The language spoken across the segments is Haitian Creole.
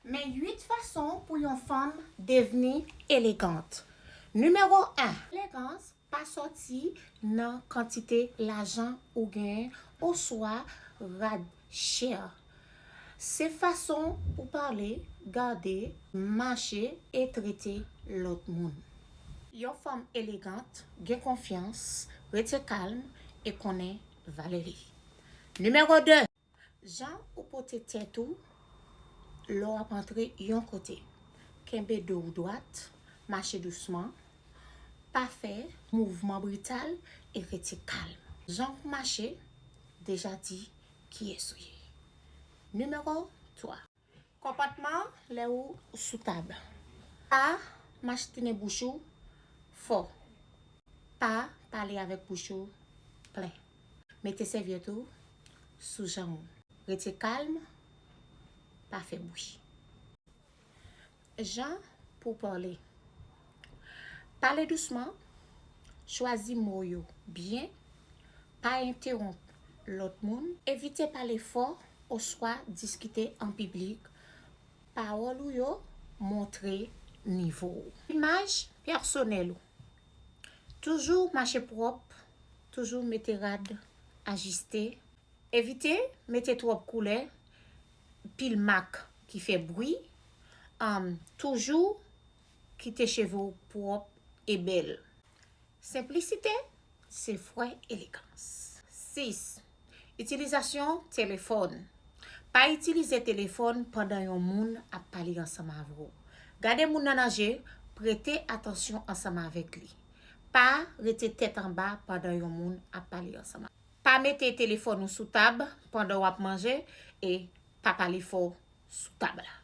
Men 8 fason pou yon fanm devni elegant. Nimewo 1. Elegans pa sòti nan kantite lajan ou genyen oswa rad chè. Se fason ou pale, gade, mache e trete lòt moun. Yon fanm elegant gen konfyans, rete kalm e konnen valè li. Nimewo 2. Jan ou pote tèt ou lè w ap antre yon kote. Kenbe do w dwat, mache dousman, pa fè mouvman brital e rete kalm. Jan ou mache deja di kiyès ou ye. Nimewo 3. Konpòtman lè ou sou tab. Pa machtennen bouch ou fò. Pa pale avèk bouch ou plen. Mete sèvyèt ou sou janm ou. Rete kalm, pa fè bwi. Jan pou w pale. Pale dousman, chwazi mo yo byen, pa entewonp lòt moun. Evite pale fò oswa diskite an piblik, pawòl ou yo montre nivo w. Imaj pèsonèl ou. Toujou mache pwòp, toujou mete rad ajiste. Evite mete twòp koulè, pil mak ki fè bwi, toujou kite cheve w pwòp e bèl. Senplisite se fre elegans. 6, Itilizasyon telefòn Pa itilize telefòn pandan yon moun ap pale ansanm avè w. Gade moun nan nan je, prete atansyon ansanm avèk li. Pa rete tèt anba pandan yon moun ap pale ansanm avè w. Pa mete telefòn ou sou tab pandan w ap manje e pa pale fò sou tab la.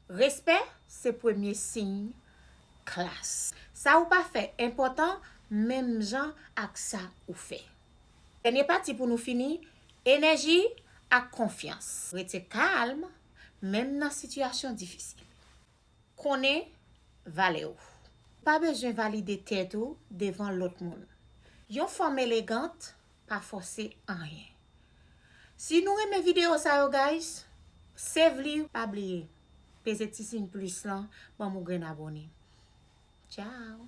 Respè se premye siy klas. Sa ou pa fè enpòtan menm jan ak sa ou fè. Dènye pati pou nou fini, enèji ak konfyans. Rete kalm, menm nan sitiyasyon difisil. Konnen valè ou. Pa bezwen valide tèt ou devan lòt moun. Yon fanm elegant pa fòse anyen. Si nou renmen video sa yo guys sevly pa bliye peze ti siy plus lan banm ou grenn abone ciao.